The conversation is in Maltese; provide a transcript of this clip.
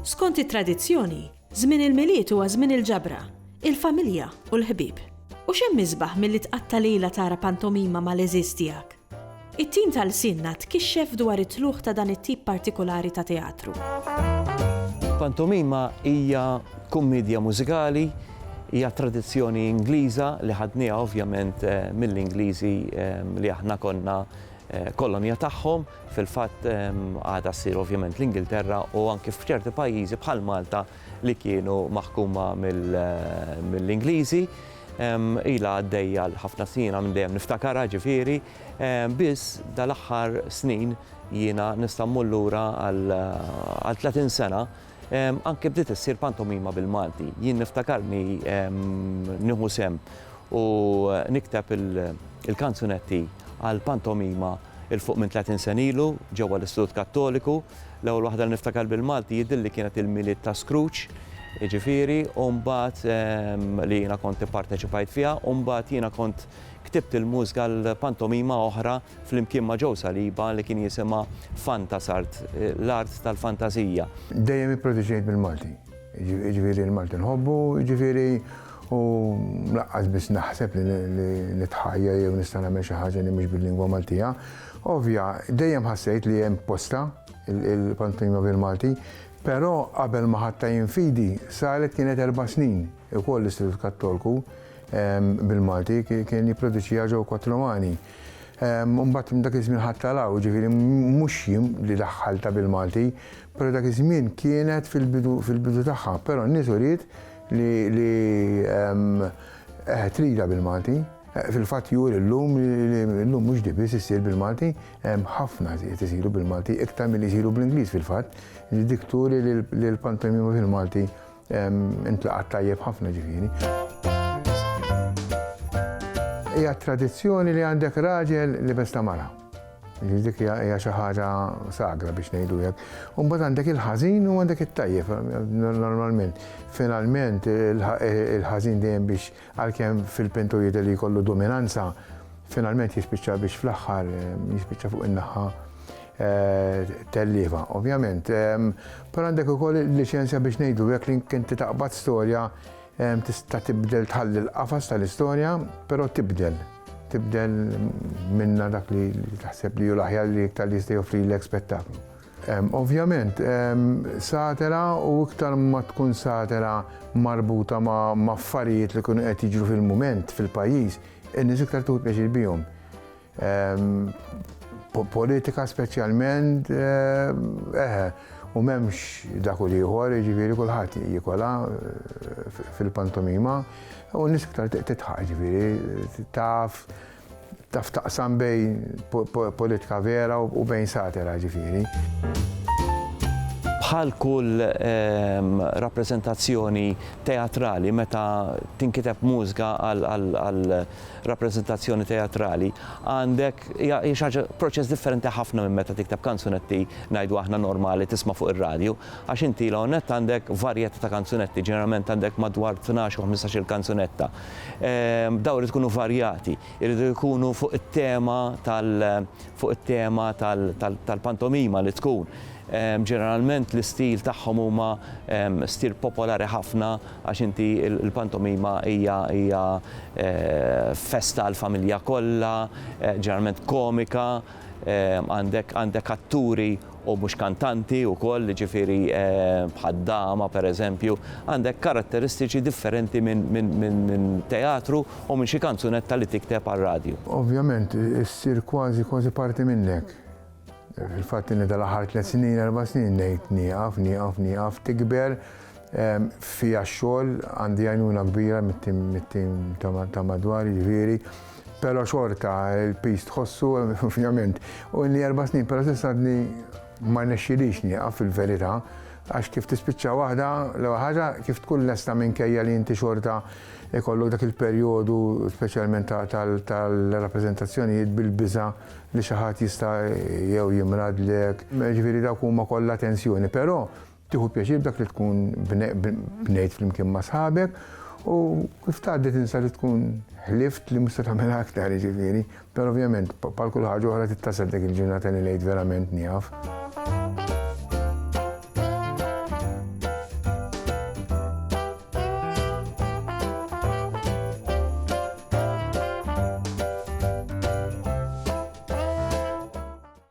Skont it-tradizzjoni, żmien il-Milied huwa żmien il-ġabra, il-familja u l-ħbieb. U x'hemm isbaħ milli tqatta' lejla tara pantomima mal-għeżież tiegħek? It-tim ta' lsienna tkixxef dwar it-tlugħ ta' dan it-tip partikolari ta' teatru. Pantomima hija kummidja mużikali, hija tradizzjoni Ingliża li ħadnieha ovvjament mill-Ingliżi li aħna konna kolonja tagħhom, fil-fatt għadha ssir ovvjament l-Ingilterra u anki f'ċerti pajjiżi bħal Malta li kienu maħkuma mill-Ingliżi. Ilha għaddejja għal ħafna snin, jiena minn dejjem niftakarha ġifieri, biss dal-aħħar snin jiena nista' mmur lura għal 30 sena, anke bdiet issir pantomima bil-Malti. Jien niftakarni nieħu sehem u nikteb il-kanzunetti għall-pantomima 'il fuq minn 30 sena ilu ġewwa l-Istitut Kattoliku. L-ewwel waħda li niftakar bil-Malti jidhirli kienet il-Milied ta' Scrooge, jiġifieri, u mbagħad li jiena kont ipparteċipajt fiha, u mbagħad jiena kont ktibt il-mużika għal pantomima oħra flimkien ma' Joe Saliba li kien jisimha Fantasart, l-art tal-fantażija. Dejjem ipproduċejt bil-Malti. Jiġifieri l-Malti nħobbu, jiġifieri u laqqas biss naħseb li nitħajjar jew nista' nagħmel xi ħaġa li mhix bil-lingwa Maltija. Ovvja, dejjem ħassejt li hemm postha il-pantomima bil-Malti, però qabel ma ħadtha jien fidi saret kienet erba' snin ukoll l-Istitut Kattolku ehm, bil-Malti kien jipproduċiha ġew Kotlomani. Ehm, mbagħad dak iż-żmien ħadd talaw, ġifieri mhux jien li daħħalta bil-Malti, Però dak iż-żmien kienet fil-bidu fil-bidu tagħha, però n-nies uriet li li qed tridha bil-Malti. Fil-fatt juri llum li llum mhux di biss issir bil-Malti, hemm ħafna qed isiru bil-Malti, iktar milli jsiru bl-Ingliż fil-fatt, li dik turi li l-pantomima fil-Malti Intlaqat tajjeb ħafna ġifieri. Hija tradizzjoni li għandek raġel li besta mara. Dik hija xi ħaġa sagra biex ngħidu hekk. U mbagħad għandek il-ħażin u għandek it-tajjeb normalment. Finalment il-ħażin dejjem biex Għalkemm fil-pintur jidher li jkollu dominanza, finalment jispiċċa biex fl-aħħar jispiċċa fuq in-naħa tellieva, ovvjament. Però għandek ukoll il-liċenzja biex ngħidu hekk li inti taqbad storja tista' tibdel tħalli l-qafas tal-istorja, però tibdel. Tibdel minnha dak li taħseb li hu l-aħjar li iktar li jista' joffrilek spettaklu. Ovvjament, satira u iktar ma tkun satira marbuta ma' affarijiet li jkunu qed jiġru fil-mument fil-pajjiż, in-nies iktar tieħu pjaċir bihom. Politika speċjalment, eħe, u m'hemmx dak u l-ieħor, jiġifieri kulħadd jikolha fil-pantomima u n-nies iktar titħaq, jiġifieri taf Taf taqsam bejn politika vera u bejn satira ġifieri. Bħal kull ehm, rappreżentazzjoni teatrali meta tinkiteb mużga għal rappreżentazzjoni teatrali għandek hija proċess differenti ħafna minn meta tikteb kanzunetti ngħidu aħna normali tisma' fuq ir-radju għax inti l għandek varjetta ta' kanzunetti ġeneralment għandek madwar 12 u 15-il kanzunetta. Dawn irid ikunu varjati, iridu jkunu fuq it-tema tal fuq it-tema tal tal-pantomima li tkun. Ġeneralment l-istil tagħhom huma stil popolari ħafna għax inti l-pantomima hija hija festa għall-familja kollha, ġeneralment komika, għandek għandek atturi u mhux kantanti wkoll, jiġifieri bħad-dama pereżempju, għandek karatteristiċi differenti minn teatru u minn xi kanzunetta li tikteb għar-radju. Ovvjament issir kważi kważi parti minnek. Il-fatt li dal-aħħar tliet snin, erba' snin ngħid nieqaf, nieqaf, nieqaf, tikber, Fija x-xogħol, għandi għajnuna kbira mit-tim ta' madwar, jiġifieri, però xorta l-piż tħossu, ovvjament. U ilni erba' snin, però s'issa għadni ma rnexxilix nieqaf fil-verità, għax kif tispiċċa waħda, l-ewwel ħaġa kif tkun lesta minkejja li inti xorta jkollok dak il-perjodu speċjalment tal-rappreżentazzjonijiet bil-biża' li xi ħadd jista' jew jimradlek, jiġifieri dawk huma kollha tensjoni, però Tieħu pjaċir b'dak li tkun bnejt flimkien ma' sħabek u kif tgħaddi tinsa li tkun ħlift li mhux se tagħmilha aktar jiġifieri, però ovvjament bħal kull ħaġa oħra tittasal dik il-ġurnata li l-Għid verament nieqaf.